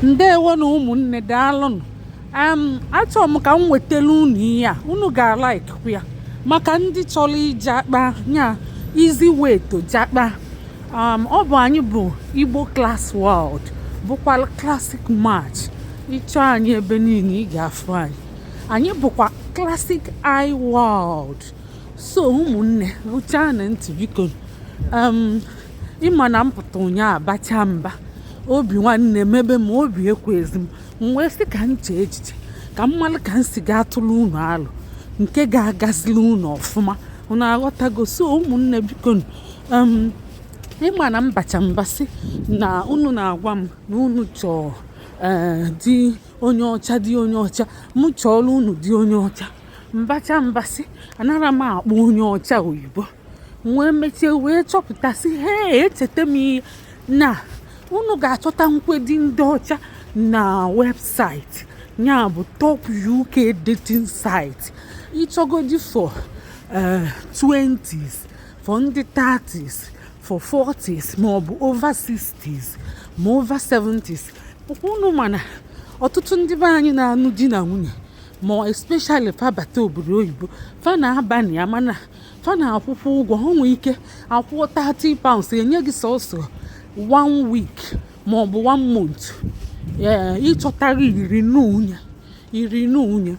ndewo na ụmụnne daalụnụ achọrọ m ka m wetara unu ihe a unu ga-alikekwa ya maka ndị chọrọ ịjakpa ya easy way to jakpa um, ọ bụ anyị bụ igbo class world bụkwa classic match ị chọ anyị ebe niile ị ga-afụ anyị anyị bụkwa classic i world so ụmụnne rụchaa na ntị bikonu um, ị ma na m pụta ụnyaahụ bacha mba obi nwanne mebe m obi ekwezi m m wee sị ka m chee echiche ka m malụ ka m si ga-atụrụ unu alo nke ga-agazili unu ọfụma unu aghọtago so ụmụnne bikonu ị ma na m bacha mba sị na unu na-agwa m na unu chọọ eh, di onye ọcha di onye ọcha m chọọlụ unu di onye ọcha m bacha mba sị anara m akpọ onye ọcha oyibo m wee mecha wee chọpụtasị ha echeta m ihe na unu ga-achọtanwu di ndị ọcha na website ya bụ top uk dating site ị chọgodi for 20s eh, for ndị 30s for 40s maọbụ over 60s ma over 70s unu ma na ọtụtụ ndị be anyị na-anụ di na nwunye ma especially fa bata obodo oyibo fa na-aba na ya mana fa na-akwụkwa ụgwọ o nwee ike a kwụọ 30 pounds e nye gị sọsọ one week ma ọ bụ one month ị chọtarọ i renewe i renewe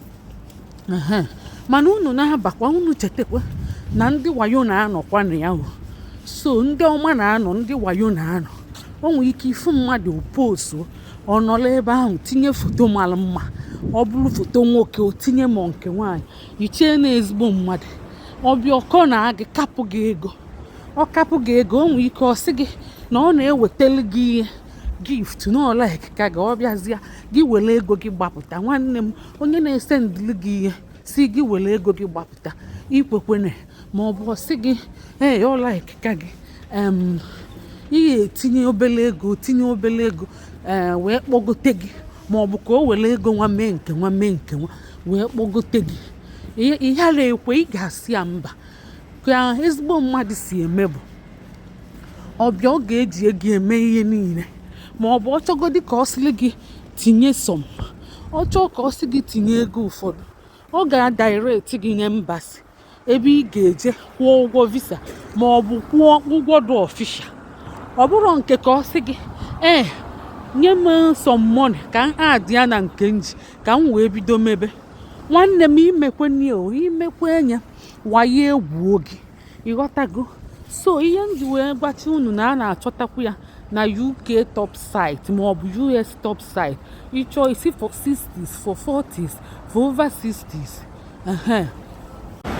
mana unu na-abakwa unu chetakwa na ndị wayo na-anọkwa na ya so ndị ọma na-anọ ndị wayo na-anọ o nwere ike ị fụ mmadụ post ọ nọlụ ebe ahụ tinye foto mara mma ọ bụrụ foto nwoke o tinye ma nke nwaanyị i chee na ezigbo mmadụ ọ bịa ọ corner gị kapụ gị ego ọ kapụ gị ego o nwee ike ọ sị gị na ọ na-ewetali gị ihe gift na ọ likeka gị ọ bịazịa gị were ego gị gbapụta nwanne m onye na-esendili gị ihe sị gị were ego gị gbapụta ikwekwene ma ọ bụ ọ sị gị ee ọ likeka gị ị ga-etinye obele ego tinye obele ego ee eh, wee kpọgote gị ma ọ bụ ka o were ego nwa mee nke nwa mee nke nwa wee kpọgote gị ị ghara ekwe ị ga-asị ya mba ka ezigbo mmadụ si eme bụ ọ bịa ọ ga-eji ego eme ihe niile ma ọ bụ ọ chọgodi ka ọ sịrị gị tinye some ọ chọọ ka ọ sị gị tinye ego ụfọdụ ọ ga-adirect gị n'embassy ebe ị ga-eje kwụọ ụgwọ visa ma ọ bụ kwụọ ụgwọ dị ọfisha ọ bụrụ nke ka ọ sị gị ee nye m some money ka m add ya na nke m ji ka m wee bido mebe nwanne m imekwe imekwe anya waye egwuo gị ị ghọtago so ihe m ji wee gwachi unu na a na-achọtakwu ya na uk top site maọbụ us top site ị chọọ ị sị for 60s for 40s for over 60s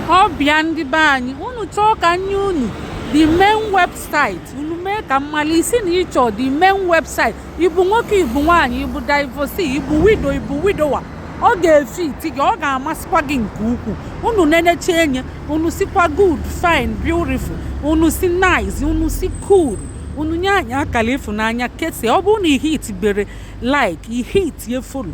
ọ bụ ya ndị be anyị unu chọọ ka m nye unu the main website unu mee ka m mali ị sị na ị chọ the main website ị bụ nwoke ị bụ nwaanyị ị bụ divorcee ị bụ widow ị bụ widower ọ ga-efiti gị ọ ga-amasịkwa gị nke ukwuu unu nenecha enye unu sịkwa good fine beautiful unu sị nice unu sị cool unu nye anyị akara ịfụnanya kesie ọ bụrụ na ị hitibere like ị hitie follow